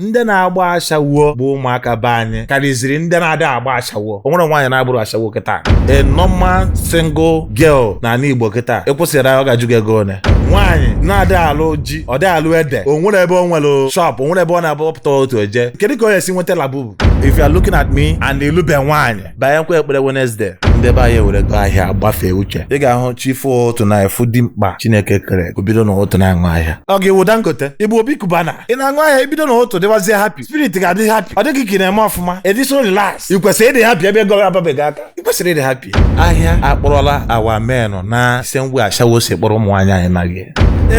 ndị na-agba ashawo bụ ụmụaka be anyị karịziri ndị na-adịghị agba ashawo o nwere nwaanyị na-abụrọ ashawo kịta a normal single girl na ala Igbo kịta ị kwụsị ya ọ ga-ajụ gị ego one nwaanyị na-adị alụ ji ọ dị alụ ede o nwere ebe o nwere shop o nwere ebe ọ na-abụ ọ pụta otu eje kedu ka ọ ga-esi nweta labubu if you are looking at me and ị lụbe nwaanyị banye nkwa ekpere Wednesday ndị be anyị ewerego ahịa gbafee uche ị ga-ahụ chi fo ụtụtụ na efu dị mkpa Chineke kere o bido na ụtụtụ na-aṅụ ahịa ọga ị wụ Dangote ị bụ Obi Cubana ị na-aṅụ ahịa i bido na ụtụtụ dịwazie happy spirit ga-adị happy ọ dị ka ị na-eme ọfụma ediso relax ị kwesịrị ịdị happy ebe ego ababeghị aka ị kwesịrị ịdị happy ahịa akpọrọla awa menụ na ise mgbe ashawo si kpọrọ ụmụ nwaanyị anyị maghị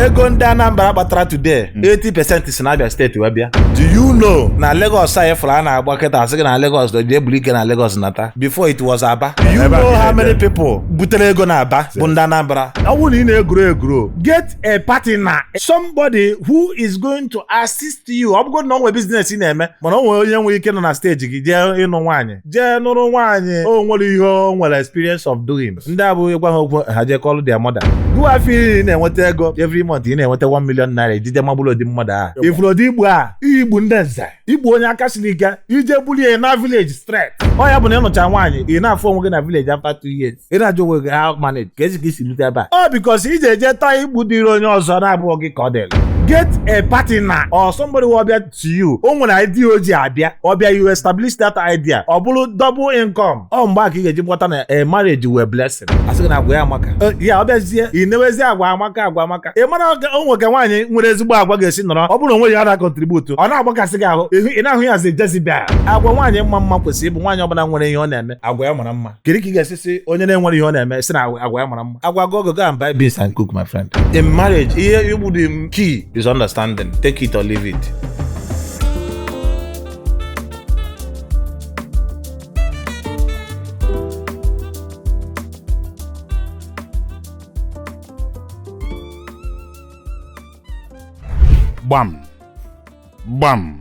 ego ndị Anambra kpatara today 80% si n'Abia State wee bịa do you know na Lagos anyị fụrụ a na-agba kịta a sị gị na Lagos dị e buru ike na Lagos nata before it was Aba do you know how many people butere ego na Aba bụ ndị Anambra ọ bụrụ na ị na-egrow egrow get a partner somebody who is going to assist you ọ bụgodị na o nwee business ị na-eme mana o nwere onye nwere ike nọ na stage gị jee ịnụ nwaanyị jee nụrụ nwaanyị o nwere ihe o nwere experience of doing ndị abụghị gwa ha okwu ha jee kọlụ their mother gụwa afọ iri na-enweta ego every month ị na-enweta 1 million naira ijije magburu odi mmadụ a ị fụrụ dị ibu a ibu ndị nze ibu onye aka siri ike i jee bulu ya na village straight ọ ya bụ na ị nụcha nwaanyị ị na-afụ onwe gị na village after 2 years ị na-ajụ onwe gị how manage ka e si ka i si rute ebe a ọ because i je ejeta ibu dịrị onye ọzọ na-abụghị gị ka ọ dịrị get a partner or somebody will be to you o nwere idea o ji abịa ọ bịa you establish that idea ọ bụrụ double income ọ mgbe a ka ị ga-eji ghọta na a marriage wụ a blessing a sị gị na agwa ya amaka Eh, ya ọ bịazie ị newezie agwa amaka agwa amaka ị mara o nwe ka nwaanyị nwere ezigbo agwa ga-esi nọrọ ọ bụrụ na o nweghị ihe ọ na-contribute ọ na-agbakasị gị ahụ ịhụ- ị na-ahụ ya zi Jezebel agwa nwaanyị mma mma kwesịrị ịbụ nwaanyị ọbụla nwere ihe ọ na-eme agwa ya mara mma kedu ka ị ga-esi sị onye na-enwerọ ihe ọ na-eme sị na agwa ya mara mma agwa go go and buy beans and cook my friend in marriage ihe bụ the main key is understanding take it or leave it gbam gbam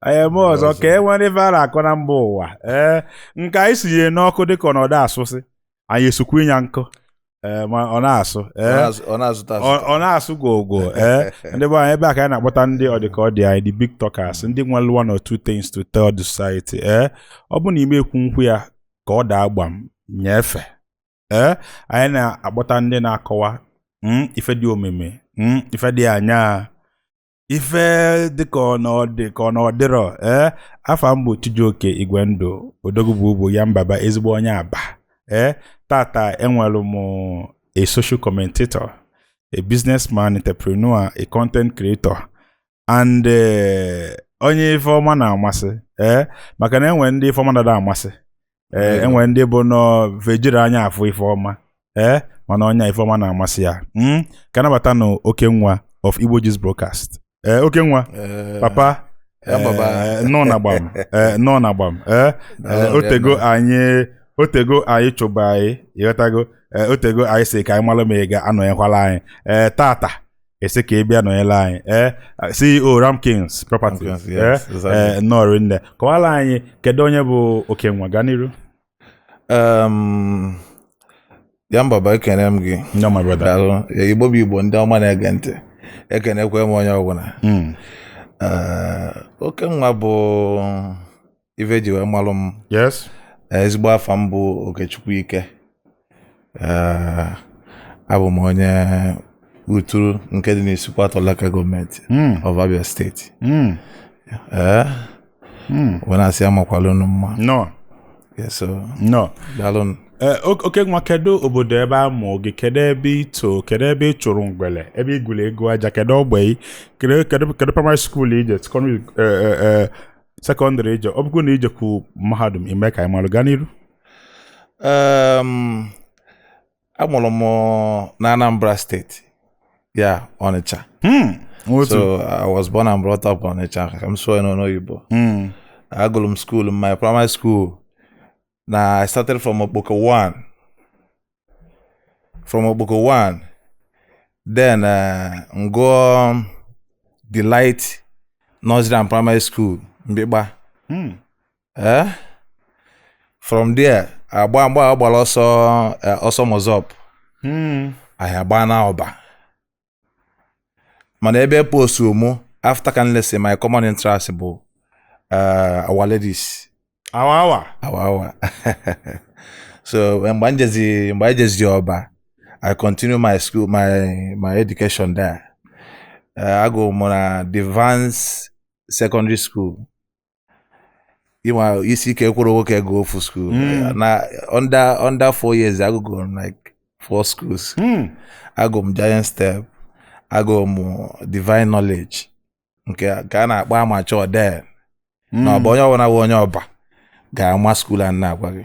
anyị eme ọzọ Ọzọ. ka e nwere ife a na-akọ na mba ụwa ee nke anyị sinyere n'ọkụ dịka ọ nọdụ asụsị anyị esukwu ịnya nkụ ee ma ọ na-asụ Ọ ee na-azụ- ọ na-azụta ọ azụta ọ na-asụ gwogwo ee ndị be anyị ebe a ka anyị na-akpọta ndị ọdịka ọ dị anyị the big talkers ndị nwere one or two things to tell the society ee ọ bụ na ime ekwu nkwu ya ka ọ daa agba m nyefe ee anyị na-akpọta ndị na-akọwa mm, ife dị omimi mm, ife dị anya ife dịka na ọ dịrọ ee afa m bụ Chijioke Igwe Ndụ odogwu bụ bụ ya mbaba ezigbo onye Aba ee tata enwere m a social commentator a businessman entrepreneur a content creator and eh, onye ife ọma na-amasị ee maka na enwere ndị ife ọma na-ada amasị ee Yeah. enwere ndị bụ na va ejiri anya afụ ife ọma ee mana onye ife ọma na-amasị ya Mm, ka a nabatanụ Okenwa of Igbo Gist broadcast ee Okenwa Eh, papa ya mbaba. eh, nọ na gbam eh, nọ na gbam eh, eh, Daalụ, otego rinne. anyị otego anyị chụba gị ịghọtago eh, otego anyị sị ka anyị malụ ma ị ga-anọnyekwala anyị eh, tata a sị ka ị bịa nọnyere anyị ee CEO Ramkins Properties Ramkins, ee yes, exactly. ee, nnọọ rinne kọwara anyị kedu onye bụ Okenwa gaa n'iru Um, ya mbaba ekene m gị nnọọ my brother daalụ Igbo bụ Igbo ndị ọma na-ege ntị ekenekwe m onye ọbụla Mm. Eh, Okenwa bụ ife eji wee malụ m yes Eh, ezigbo afa m bụ Okechukwu Ike Eh, abụ m onye Uturu nke dị n'Isuikwuatọ local gọọmenti Mm, of Abia steeti mm, Eh, mm. wee na-asị amakwala unu mma nnọọ Yeah, so nnọọ daalụ Eh, ok- Okenwa kedu obodo ebe a mụ gị kedu ebe ị too kedu ebe ị chụrụ ngwele ebe ị gwuru egwu aja kedu ogbe ị kedu kedu kedu primary school ị je secondary eh, eh, eh, sekọndịrị ị je ọ bụkwa na ị jekwu mahadum ị mee ka anyị malụ gaa n'iru Em, amụrụ m na Anambra steeti ya Ọnịcha Hmm, otu so I was born and brought up Ọnịcha ka m sụọ ya n'ọnụ oyibo Hmm, agụrụ m skuul m my primary school na I started from Okpoko 1. From Okpoko 1, then uh, m gụọ um, Delight Nursery and Primary School, Mkpikpa. Hmm. Eh? From there, agba mgbe a gbara ọsọ eh, ọsọ MASSOB Hmm. anyị agbana Ọba mana ebe e postu mụ after ka m lesị my common entrance bụ uh, Our Lady's awa awa awa awa so mgbe anyị jezi mgbe anyị jezi Ọba I continue my school my my education there uh, agụ mụ na Devance Secondary School ị ma isi ike ekwerọ nwoke gụọ ofu skuul hmm. na under under four years agụgo m like four schools hmm. agụ m giant step agụ m divine knowledge nke a na-akpọ Amachi then hmm. na Ọba onye ọbụla bụ onye Ọba ga-ama skuul a m na-agwa gị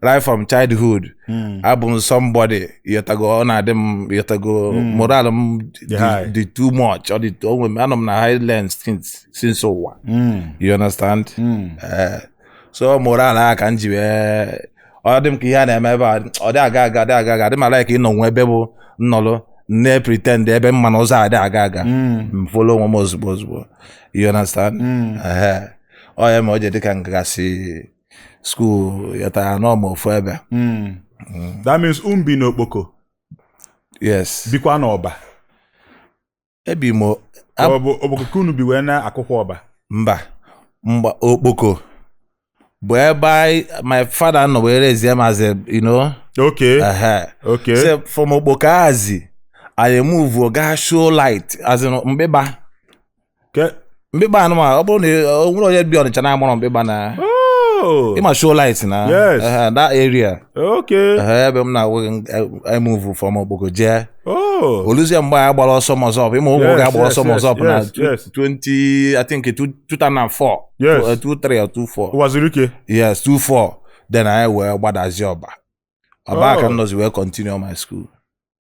right from childhood hmm. abụ m somebody ị ghọtago ọ na-adị m ị ghọtago hmm. moral m dị too much ọ dị onwe m anọ m na high lens since ụwa hmm. you understand eh, so moral a ka m ji wee ọ dị m ka ihe a na-eme ebe a adị aga aga dị aga aga dị m ala ka ịnọ nwe ebe bụ nnọlụ na-epretend ebe m ma na ụzọ adị aga aga m folo onwe m ozugbo ozugbo you understand ọ ya mere o ji dị ka m gasị school ị ghọtara anọ m ofu ebe Mm. that means unu bi n'okpoko yes bikwa n'ọba ebi m o- Ka ọ bụ okpoko ka unu bi wee na akwụkwọ ọba mba mba okpoko bụ ebe anyị my father nọ wee rezie m as a you know okay ehe. okay Say from okpoko azi anyị move gaa show light as in mkpịkpa mkpịkpa unu manụ ọ bụrụ na o nwere onye bi ọnịcha na-amarọ mkpịkpa na Oh. ị ma show light na Yes. eh, that area Okay. Eh, ebe m na-awụ emuvu from okpoko jee Oh. oluzie mgbe anyị gbara ọsọ MASSOB ị ma ụmụ Yes, oge a gbara yes, ọsọ yes, MASSOB na yes, yes. 20 i think 2004 Yes. Eh, 23 or 24 Uwazuruike. yes 24 then anyị wee gbadazie ọba ọba Oh. ka m nọzi wee continue my school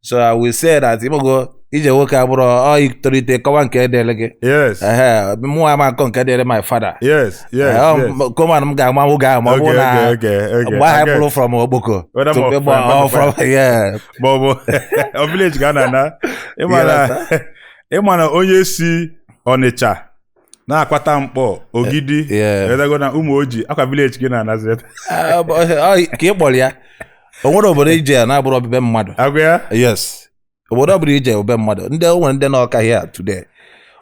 so i will say that ị mago ije nwoke abụrụ ọ i tolite kọwa nke dịrị gị yes ehe mụ ama nkọ nke dịrị my father yes yes Eh, ọ, yes m- koman m ga-ama ahụ ga ama ọ bụrụ na okay, okay, okay. mgbe ahụ I get- bụrụ from okpoko Whether to more ịgba- from- ọ, from yeah ma ọ bụ ọ village ka a na-ana ị ma na ị ma na onye si ọnịcha na-akwata nkpọ ogidi Eh, yeah. edago na ụmụoji ọ kwa vileji gị na nazireta Ah, ọ- ọ- ọ- ka ị kpọrọ ya o nwere obodo i je ya na-abụrọ be mmadụ agwa ya yes obodo ọbụla i je ọ be mmadụ ndị o nwere ndị nọ ọka hia today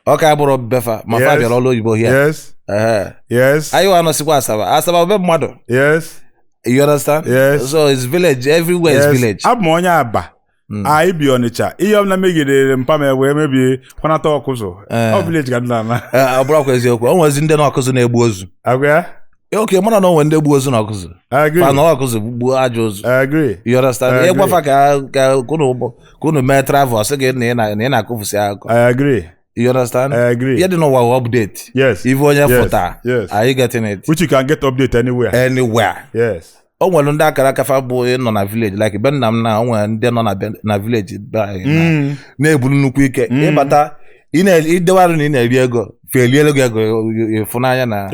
ọka abụrọ be fa ma fa Yes. bịara ọrụ oyibo hia yes Ehe. yes anyị wa nọsikwa asaba asaba ọ be mmadụ yes you understand Yes. so it's village everywhere yes is village abụ m onye aba Mm. anyị bi ọnịcha ihe ọbụla megidere mpa m wee mebie kwanata ọkụzụ Eh. ọ vileji ka a na-ana Eh, ọ bụrụkwa eziokwu o nwezi ndị nọ ọkụzụ na-egbu ozu agwa ya Eh, okay mara na o nwere ndị gburu ozu n'ọkụzụ agree fa nọ ọkụzụ gbuo ajọ ozu agree you understand Eh, ị gwa fa ka ka ka unu ka unu mee travel sị gị na ị na- na ị na-akọfusi akụkọ I agree. You understand? I agree. Yeah, ihe dị n'ụwa update. Yes. Ife onye yes. fụta, yes. Are you getting it? Which you can get update anywhere. Anywhere. Yes. o nwere ndị akara aka fa bụ ịnọ na vileji like be nna m na o nwere ndị nọ na vileji be anyị mm. na-eburu nnukwu ike mm. ị bata i dewe arụ na ị na-eri ego fa eliere gị ego ịfụnanya na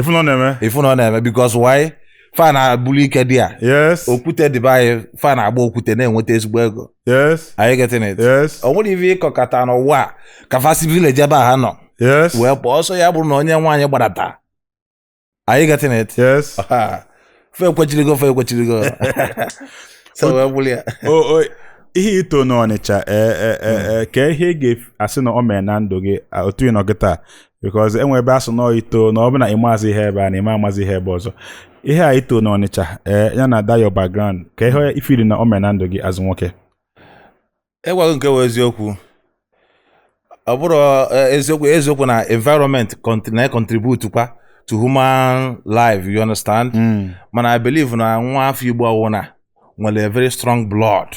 ịfụnọ na-eme because why fa na-abụrụ ike dị ya yes okwute dị be anyị fa na-agba okwute na-enweta ezigbo ego yes are you getting it yes o nwere ife ị kọkọta n'ụwa a, ka fa si vileji ebe a ha nọ yes wee pụọ ọsọ ya bụrụ na onye nwaanyị gbadata are you getting it yes Ha, fe ekwechirigo fe ekwechirigo so wee bụrụ ya o o ihe ito n'ọnịcha ee e e e ka ihe ị ga-asị na o mere na ndụ gị a, otu ị nọ gị taa because e nwe ebe a sị na ito na ọ bụla ịmazị ihe ebe a na ịma amazi ihe ebe ọzọ ihe a ito na ọnịcha ee eh, ya na that your background ka ihe ị fụrụ na o me na ndụ gị as nwoke ịgwa gị nke bụ eziokwu ọ bụrụ eh, eziokwu eziokwu na environment na contribute kwa to human life you understand hmm. mana i believe na nwa afọ igbo ọwụna nwere a very strong blood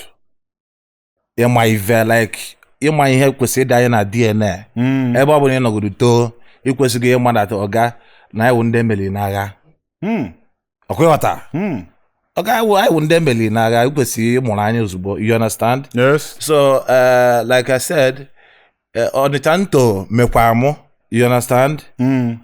ịma ive like ịma ihe kwesịrị ịdị anyị na DNA Mm. ebe ọ bụla ị nọgodu too ị kwesịgo ịmata ọga na anyị wụ ndị e meriri n'agha Mm. ọ kwa ị ghọta Mm. ọga anyị wụ anyị wụ ndị e meriri n'agha ị kwesịrị ịmụrụ anya ozugbo you understand Yes. so uh, like I said uh, ọnịcha m to mekwa mụ you understand Mm.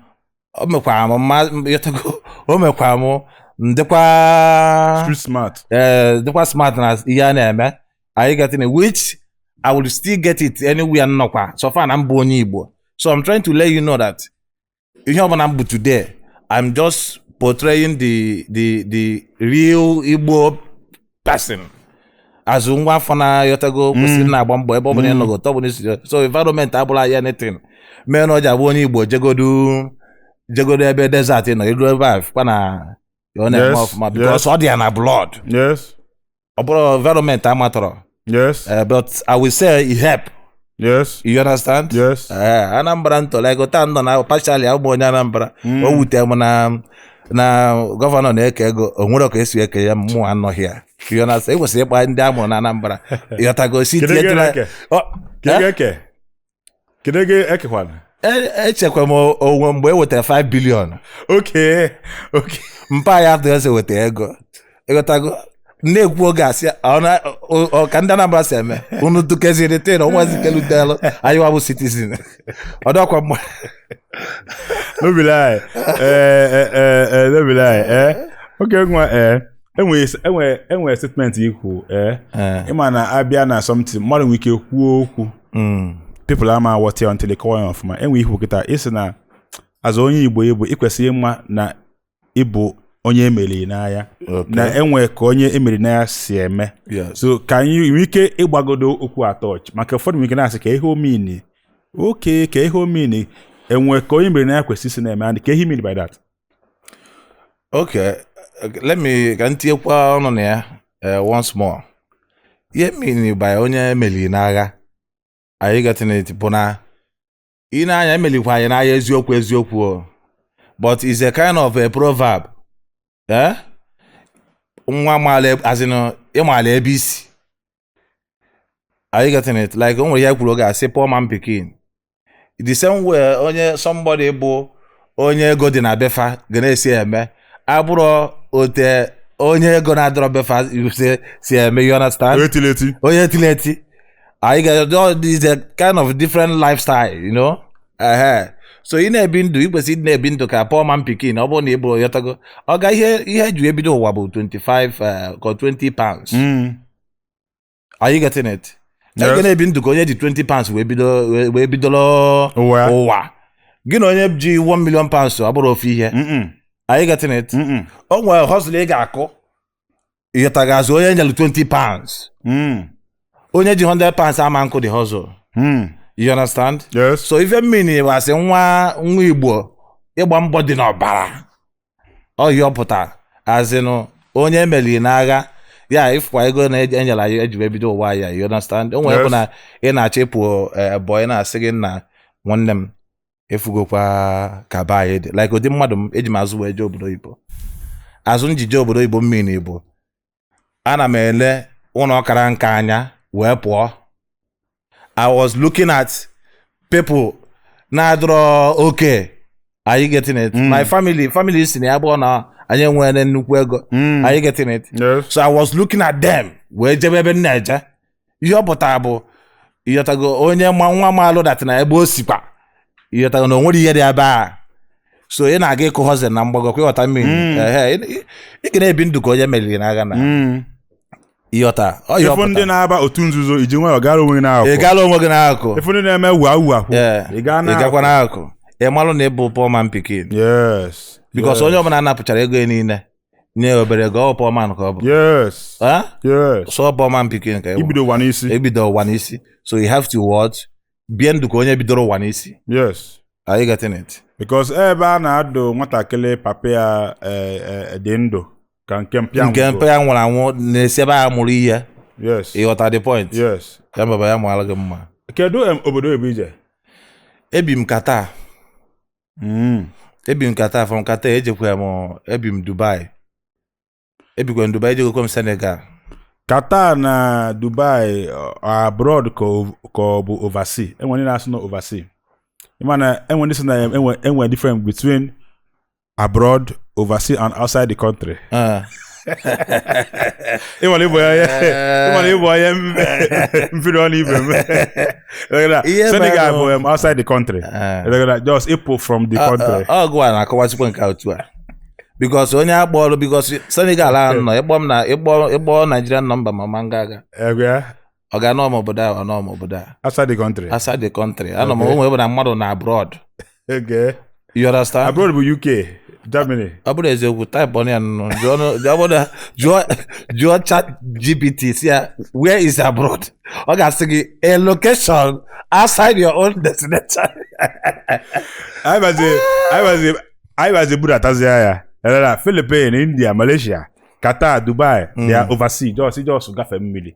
o mekwara m mma ị ghọtago o mekwara m m dịkwa street smart ee dịkwa smart na ihe a na-eme are you getting it which I will still get it anywhere m nọkwa so far na m bụ onye Igbo so I'm trying to let you know that ihe ọbụla m bụ today I'm just portraying the the the real Igbo person as nwa afọ ị ghọtago kwesịrị mm. na-agba mbọ ebe ọ bụla mm. ị nọ otu ọ bụla i siri so environment abụrọ anything mee na ọ ji abụ onye igbo jegodu jegodu ebe desert nọ i lu ebe a kwa na ọ na-eme ọfụma because ọ dị ya na blood ọ bụrụ environment amatọrọ yes eh, but i will say it help yes you understand yes Ee, anambra ntọlego taa nọ na pachali ụmụ onye anambra Mm. o wute m na na gọvanọ na-eke ego o nwere ka e si eke ya mụ anọghị ya You understand? e kwesịrị ịkpọ ndị a mụrụ na anambra ị ghọtago sị Kedu ego tinyetụla eke? Ọ, Kedu ego eke? Kedu ego ekekwana? e- echekwa m onwe mgbe e wetara 5 bilion Oke, oke. mpa ya atụ ese weta ego ị ghọtago na-ekwu oge a sị ọ na- ọ- ọ- ka ndị Anambra si eme unu dukeziri tin ọnwazi kelutelu anyị wa bụ citizen ọdọkwa mgbe no be lie eh eh eh eh no be lie eh okay nwa eh enwe enwe enwe statement i kwu eh ị ma na a bịa na something mmadụ nwere ike kwuo okwu people ama aghọta ya until a kọwa ya ọfụma enwe ikwu kịta ị sị na as onye igbo igbo ị kwesịghị ịma na ị bụ onye e meriri n'agha na e nwe ka onye e meri n'agha si eme so ka anyị nwee ike ịgbagodo okwu a touch maka ụfọdụ nwere ike na-asị kee ihe ọ mean okay kee ihe ọ mean e nwe ka onye e meri n'agha kwesịrị isi na-eme adị ka ihe ị mean by that okay let me ka m tinyekwa ọnụ na ya eh, once more ihe m mean by onye e meriri n'agha are you getting it bụ na ị na-anya e melikwa anyị n'agha eziokwu eziokwu o but is a kind of a proverb eh? nwa maala as in ị maala ebe i si are you getting it like o nwere ihe e kwuru oge a sị poor man pikin the same way onye somebody bụ onye ego dị na be fa ga na-esi eme abụrọ otu onye ego na-adịrọ be fa si eme you understand onye e tiri eti onye e tiri eti are you getting is a kind of different lifestyle you know so ị na-ebi ndụ ị kwesịrị na-ebi ndụ ka poor man pikin ọ bụrụ na ị bụrụ ị ghọtago ọ ga ihe ihe e ji ebido ụwa bụ 25 ka 20 pounds mm. are you getting it Yes. ị ga na-ebi ndụ ka onye ji 20 pounds wee bido wee- wee bidoro Ụwa. ụwa gị na onye ji 1 million pounds ọ bụrọ ofu ihe Mm-mm. are you getting it Mm-mm. o nwere hustle ị ga-akụ ị ghọtago as onye e nyere 20 pounds Mm. onye ji 100 pounds ama akụ the hustle Mm. you understand Yes. so ife m mean wee sị nwa nwa igbo ịgba mbọ dị n'ọbara ọ ihe ọ pụtara as in onye e meli n'agha ya ị fụkwa ego one e nyere anyị e ji wee bido ụwa ya you understand o nwere bụ na ị na-achọ ịpụ ebọ eh, a na-asị gị nna nwanne m ị fụgokwa ka be anyị dị like ụdị mmadụ m eji m azụ wee jee obodo oyibo azụ m ji je obodo oyibo mean na igbo ana m ele ụlọ kara nka anya wee pụọ i was looking at people na-adịrọ okay are you getting it mm. my family family si na ya abụrọ na anyị nwere nnukwu ego mm. are you getting it so i was looking at them wee jebe ebe m na-eje ihe ọ pụtara bụ ị ghọtago onye ma nwa maalụ that na ebe o sikwa ị ghọtago na o nwerọ ihe dị ebe a so ị na-aga ịkụ hustling na mgbago kwa ị ghọta ihe m mean Mm. Ehe, ị- ị- ị ga na-ebi ndụ ka onye e meriri n'agha na Mm. ị ghọta ọ ihe ọ ị fụ ndị pụtara na-aba otu nzuzo i ji nwayọọ gara onwe gị ị n'ahụ gaala onwe gị n'akụkụ ị fụ ndị na-eme wua wua kwụ Ee, ị gaa ị n'ahụ gakwa n'akụkụ ị malụ na ị bụ poor man pikin yes because Yes. onye ọbụla a napụchara ego ya niile nye ya obere ego ọ poor man ka ọ bụ yes Eh? yes so ọ poor man pikin ka ị bụ. i bido ụwa n'isi ebido ụwa n'isi so you have to watch bie ndụ ka onye bidoro ụwa n'isi yes are you getting it because ebe a na-adụ nwatakịrị papa ya eh, eh, dị ndụ ka nke mpa ya nke mpa ya nwụrụ anwụ na-esi ebe a amụrụ ihe yes ị ghọta the point yes ya baba ya mụara gị mma kedu em, obodo ebe ije ebi m ka taa Mm. ebi m Qatar from Qatar ejekwa m ebi m dubai ebikwa m dubai ejegokwa m senegal Qatar na Dubai ọ- abroad ka o- ka ọ bụ oversea enwere ndị na-asụ na oversea ịma na enwe ndị sị na enwe enwe different between abroad oversea and outside the country Ah, ịmara ịbụ ya ịmara ịbụ onye mfiri ọnụ ibe m Ihe Senegal bụ- bụ um, outside the country Ah. Ịdọgịda, just ịpụ from the country ọ gụa na-akọwachikwa nke a otu a because onye a kpọrọ because senegal ahụ ịnọ ịkpọ m na ịkpọ ịkpọ naijiria nọmba ma ma nga aga Egwe ya. ọ ga anọ m obodo a anọ m obodo a outside the country outside the country anọ m Okay. o nwe ebe na mmadụ na abroad okay you understand abroad bụ uk germany ọ bụrụ eziokwu type ọnụ ya nụ jụọ nụ- jụọ bụrụ na- jụọ jụọ chat gpt sị ya where is abroad ọ ga-asị gị a location outside your own destination anyị bazi anyị bazi anyị bazi budatazi ya elera philippine india malaysia qatar dubai Mm. they are overseas just just gafe mmiri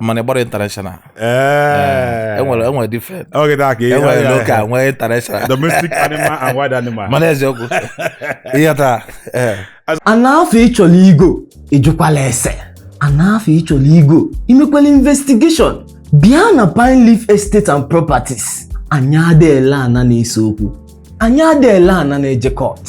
mana ịgbara international ee enwere enwere different oge taa ka enwere local nwee international domestic animal and wild animal mana eziokwu ihe taa ee ana afụ ịchọrọ igo ịjụkwala ese ana afụ ịchọrọ igo imekwala investigation bịa na pine leaf estate and properties anyị ada ele ana na-ese okwu anyị ada ele ana na-eje court